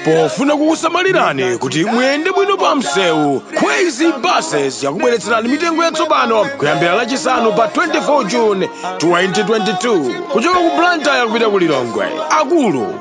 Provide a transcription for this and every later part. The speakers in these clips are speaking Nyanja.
pofuna kukusamalirani kuti muyende bwino pa msewu kwezy buses yakubweretserani mitengo yatsopano kuyambira lachisanu pa 24 june 2022 kuchoka ku blantyre kupita ku lilongwe akulu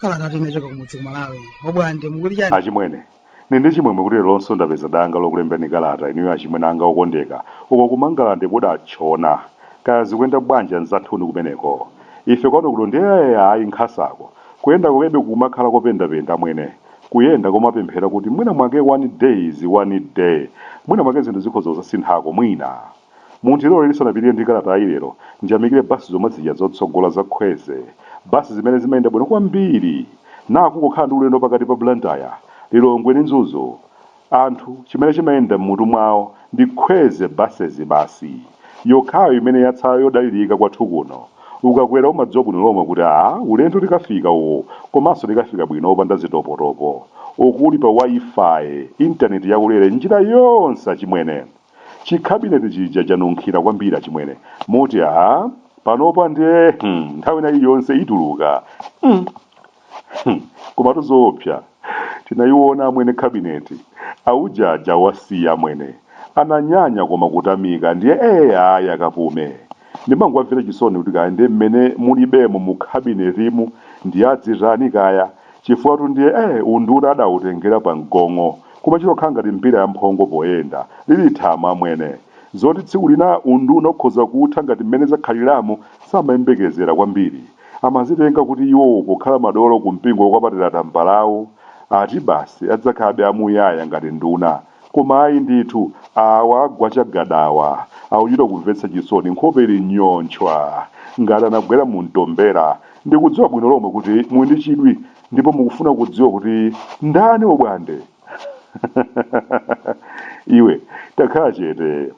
kalata inachoka kumudzi ku malawi obwande mukuti chani achimwene ndili ndi chimwemwe kuti leronso ndapeza danga lokulemberani kalata inuyo achimwene anga okondeka uko kumangalande kodi atchona kaya zikuyenda bwanji anzathuni kumeneko ife kwano kuno ndiye ayi nkhasako Kuyenda kwakebe kukumakhala kopendapenda amwene. Kuyenda komapemphera kuti mwina mwake one days, one day, mwina mwake zinthu zikhoza kuzasinthako, mwina. Mundilole ndisanapitirire ndi kalatayi lero, ndiyamikire bus zomwe zija zotsogola za Kwezy. Bus zimene zimayenda bwino kwambiri. Naa kungokhala ndi ulendo pakati pa Blantyre, Lilongwe ndi Mzuzu. Anthu chimene chimayenda mmutu mwawo ndi Kwezy buses basi. Yokhayo imene yatsala yodalirika kwathu kuno. Ukakwera umadziwa bwino lomwe kuti aah ulendo tikafika uwu komanso tikafika bwino opanda zitopotopo. Uku uli pa Wi-Fi, internet yaulere njira yonse achimwene. Chi cabinet chija chanunkhira kwambiri achimwene moti aah panopa nde hmm nthawi ina iliyonse ituluka mm. Hmm, komatu zoopsa tinayiona amwene kabineti auje aja awasiya amwene ananyanya koma kutamika ndiye ee ayi akapume ndimangwamvera chisoni kuti kaya ndiye mmene mulibemo mu kabinetimu ndiye adzitani kaya chifukwatu ndiye ee unduna adautengera pa mgong'o koma chitokhala ngati mbira ya mphongo poyenda lili thama amwene zoti tsiku lina unduna ukhoza kutha ngati mmene zakhaliramu samayembekezera kwambiri Amazitenga kuti iwowo pokhala madolo ku mpingo wokwapatira tambalawu ati basi adzakhalabe amuyaya ngati nduna koma ayi ndithu awa agwa chagadawa akuchita kumvetsa chisoni nkhope ili nyonchwa ngati anagwera mu mtombera. Ndikudziwa bwino lomwe kuti muli ndi chidwi ndipo mukufuna kudziwa kuti ndani obwande? Iwe takhala chete.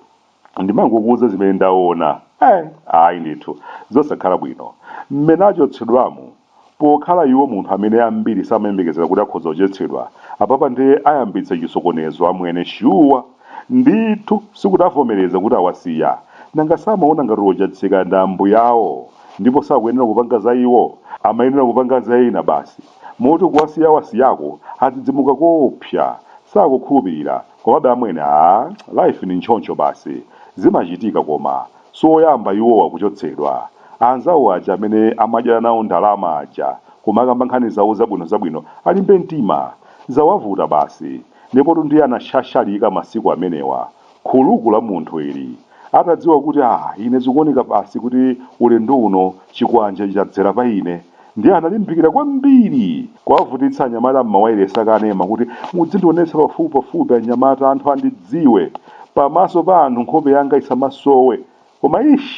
ndimangokuuza zimene ndaona eh, ayi ndithu zosakhala bwino mmene achotsedwamu pokhala iwo munthu amene ambiri samayembekezera kuti akhoza kuchotsedwa apapa ndiye ayambitsa chisokonezo amwene shuwa ndithu sikuti avomereza kuti awasiya nanga samaona ngati ochatsika ndi ambuyawo ndipo sakuyenera kupanga za iwo amayenera kupanga za ena basi moti kuwasiya awasiyako adzidzimuka koopsa sakukhulupirira Komabe amwene aah life ndi ntchoncho basi zimachitika koma siwoyamba iwowa kuchotsedwa. Anzawo aja amene amadyera nawo ndalama aja kumakamba nkhani zawo zabwino zabwino alimbe mtima. Zawavuta basi. Ndipotu ndiye anashashalika masiku amenewa. Khuluku la munthu ili. Atadziwa kuti ah ine zikuoneka basi kuti ulendo uno chikwanje ichi chadzera pa ine, ndiye analimbikira kwambiri kuwavutitsa anyamata m'mawailesi akanema kuti mudzindionetsa pafupipafupi anyamata, anthu andidziwe, pamaso pa anthu nkhope yanga isamasowe. Koma eish!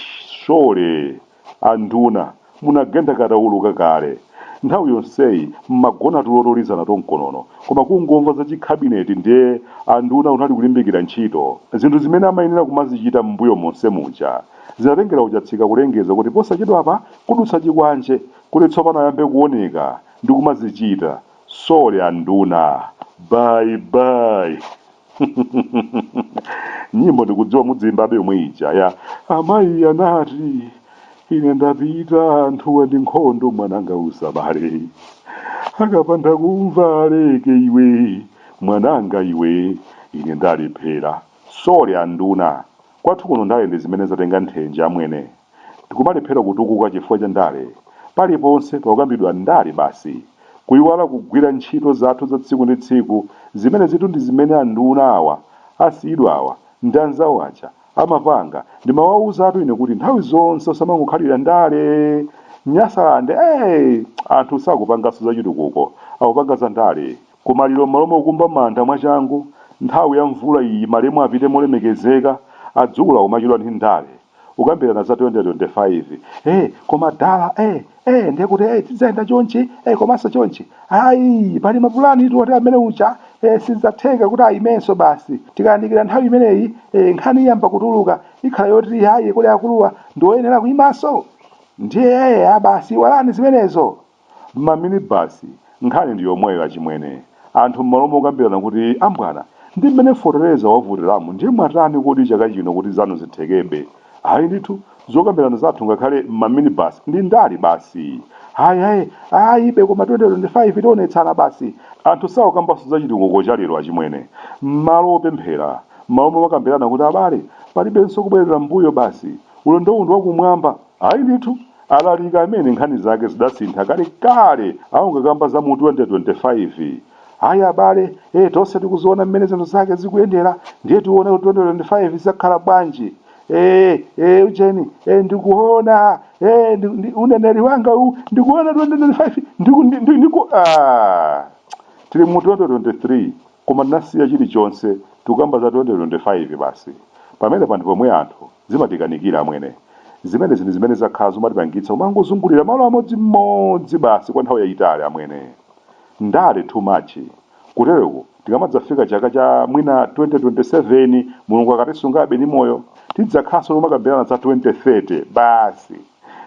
Shole! Anduna, munagenda katawuluka kale. Nthawi yonseyi mmagona tulo tolizana tomkonono koma kungomva za chi cabinet ndiye anduna kunali kulimbikira ntchito. Zinthu zimene amayenera kumazichita mmbuyo monse muja zinatengera uChatsika kulengeza kuti posachedwapa kudutsa chikwanje kuti tsopano ayambe kuoneka ndi kumazichita. Sole anduna. Bye bye! nyimbo ndikudziwa mudzimbabe yomwe ija ya amayi anati ine ndapita anthuwa ndi nkhondo mwananga usabale akapanda kumva aleke iwe mwananga iwe ine ndalephera sole anduna kwathu kuno ndale ndi zimene zatenga nthenje amwene tikumalephera kutukuka chifukwa cha ndale. Paliponse pakukambidwa ndale basi, kuiwala kugwira ntchito zathu za tsiku ndi tsiku, zimenezitu ndi zimene anduna awa asiyidwawa ndi anzawo aja amapanga. Ndimawauzatu ine kuti nthawi zonse osamangokhalira ndale. Nyasalande! Anthu sakupanganso zachitukuko, akupanga za ndale. Kumaliro m'malo mokumba manda mwachangu, nthawi ya mvula iyi malemu apite molemekezeka, adzukulu akumachedwa ndi ndale. kukambirana za 2025 eh koma dala eh eh ndiye kuti eh tidzayenda chonchi eh komanso chonchi ayi pali mapulani tiwone amene ucha eh sizidzatheka kuti ayimenso basi tikayandikira nthawi imeneyi eh nkhani iyamba kutuluka ikhala yoti ayi kuli akuluwa ndiwoyenera kuyimanso ndiye eh a basi iwalani zimenezo Mma minibasi nkhani ndi yomweyo achimwene. Anthu mmalo mokambirana kuti ambwana ndi mmene fotereza wavutiramu ndiye mwatani kodi chaka chino kuti zanu zithekebe? Ayi ndithu zokambirana zathu ngakhale mma minibasi ndi ndale basi. Hayi hayi ayibe koma 2025 tionetsana basi. Anthu sakukambanso za chitukuko cha lero achimwene. Mmalo opemphera, mmalo momakambirana kuti abale palibenso kubwerera mmbuyo basi. Ulendowu ndi wakumwamba. Ayi ndithu, alaliki amene nkhani zake zidasintha kalekale akukakamba za mu 2025. Ayi abale, ee tonse tikuziona mmene zinthu zake zikuyendera ndiye tione kuti 2025 zidzakhala bwanji. Ee, ee ujeni, ee ndikuona, ee ndi, ndi, uneneri wanga uwu ndikuona 2025 ndiku, ndi, ndi, ndiku, ah. Tili mu 2023 koma tinasiya chilichonse tikukamba za 2025 basi. Pamene panthu pomwe anthu Zimatikanikira amwene. Zimenezi ndi zimene zakhala zumatipangitsa kumangozungulira malo amodzi modzi basi kwa nthawi yayitali amwene. Ndale too much. Kutereku tikamadzafika chaka cha mwina 2027 Mulungu akatisungabe ndi moyo tidzakhalanso tikumakambirana za 2030 basi.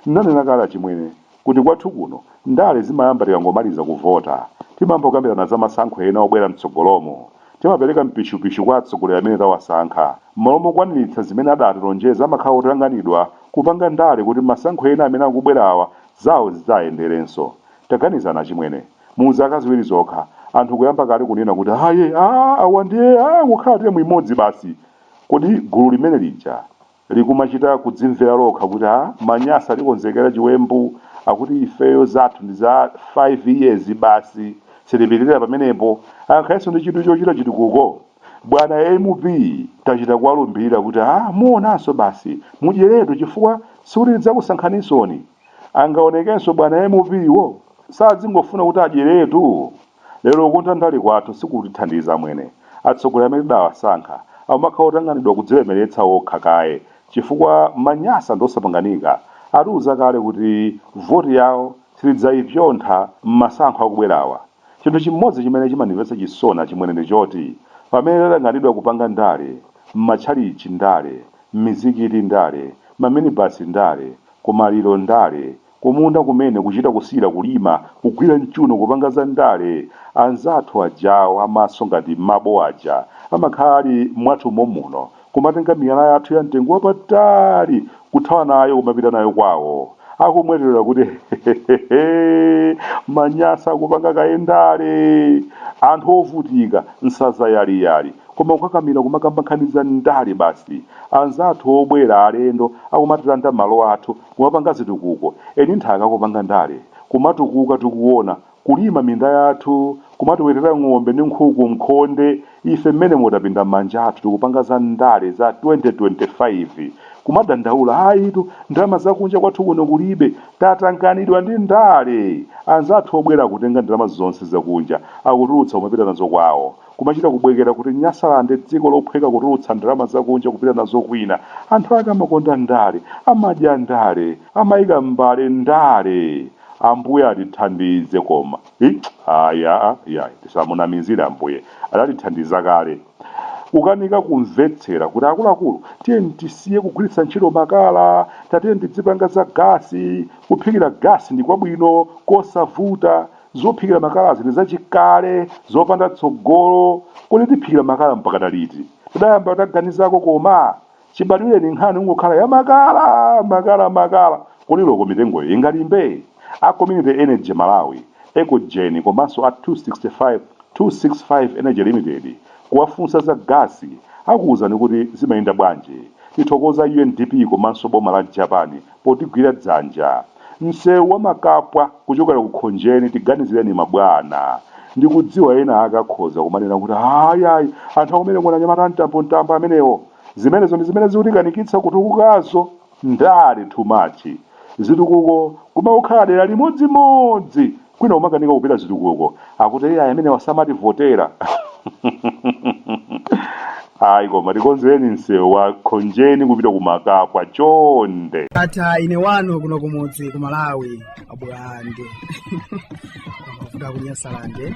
Ndinanena kale achimwene. kuti kwathu kuno ndale zimayamba tikangomaliza kuvota. Timayamba kukambirana za masankho ena obwera m'tsogolomu. Timapereka mpishupishu kwa atsogoleri amene tawasankha. M'malo mokwaniritsa zimene adatilonjeza amakhala otanganidwa kupanga ndale kuti masankho ena amene akubwerawa zao zidzayenderenso. Taganizani achimwene, mu zaka ziwiri zokha, anthu kuyamba kale kunena kuti aye! Aaa! Awa ndiye aa! Kukhala term imodzi basi! Kodi gulu limene lija likumachita kudzimvera lokha kuti ha manyasa atikonzekera chiwembu akuti ifeyo zathu ndi za 5 years basi sitipitirira pamenepo angakhalenso ndi chidwi chochita chitukuko bwana mp tachita kuwalumbirira kuti ha muonanso basi mudyeretu chifukwa sikuti tidzakusankhaninsoni angaonekenso bwana mp wo sadzingofuna kuti adyeretu Lero kukonda ndale kwathu sikutithandiza amwene. Atsogoleri amene tidawasankha akumakhala otanganidwa kudzilemeretsa okha kaye chifukwa manyasa ndi osapanganika atiuza kale kuti voti yawo sitidzaipyontha mmasankho akubwerawa. Chinthu chimodzi chimene chimandimvetsa chisoni achimwene ndi choti pamene tatanganidwa kupanga ndale, mmatchalitchi ndale, mmizikiti ndale, mmaminibasi ndale, kumaliro ndale, Kumunda kumene kuchita kusiyira kulima, kugwira m'chuno kupanga za ndale, anzathu ajawo a maso ngati mabo aja amakhala ali mwathu mommuno, kumatenga miyala yathu ya mtengo wapatali kuthawa nayo kumapita nayo kwawo, akumweterera kuti hehehehe manyasa akupanga kaye ndale, anthu ovutika, nsanza yaliyali, koma kukakamira kumakamba nkhani za ndale basi, anzathu obwera alendo akumatilanda malo athu. kumapanga zitukuko eni nthaka kupanga ndale kumatukuka tikuona kulima minda yathu kumatiwetera ng'ombe ndi nkhuku mkhonde ife mmenemo tapinda manja athu tikupanga za ndale za 2025 kumadandaula ayitu ndalama zakunja kwathu kuno kulibe tatanganidwa ndi ndale anzathu obwera akutenga ndalama zonse zakunja akutulutsa kumapita nazo kwawo Kumachita kubwekera kuti Nyasalande dziko lophweka kutulutsa ndalama zakunja kupita nazo kwina. Anthu ake amakonda ndale, amadya ndale, amaika m'mbale ndale. Ambuye atithandize koma. Iyayi tisamunamizire Ambuye. Adatithandiza kale. Kukanika kumvetsera kuti akuluakulu tiyeni tisiye kugwiritsa ntchito makala, tatiyeni tidzipanga za gasi, kuphikira gasi ndi kwabwino, kosavuta. Zophikira makalazi ndi zachikale, zopanda tsogolo. Kodi tiphikira makala mpakana liti? Tidayamba taganizako koma? Chibadwireni nkhani kungokhala ya makala, makala, makala. Kodi loko mitengoyo ingalimbe? A Community Energy Malawi, Ecogen komanso a 265 265 Energy Limited kuwafunsa za gasi akuuzani kuti zimayenda bwanji. Tithokoza UNDP komanso boma la Japan potigwira dzanja. Msewu wa Makapwa kuchokera ku Khonjeni tiganizireni mabwana. Ndikudziwa ena ake akhoza kumanena kuti ayi ayi anthu akumeneko n'anyamata amtambo mtambo amenewo. Zimenezo ndi zimene zikutikanikitsa kutukukazo. Ndale too much. Zitukuko kumangokhala dera limodzimodzi kwina kumakanika kupita zitukuko akuti iyayi amenewa samativotera ayi koma tikonzereni msewu wa khonjeni kupita ku makapwa chonde ndatha ine wanu kuno kumudzi ku malawi abwande kuvuta kunyasalande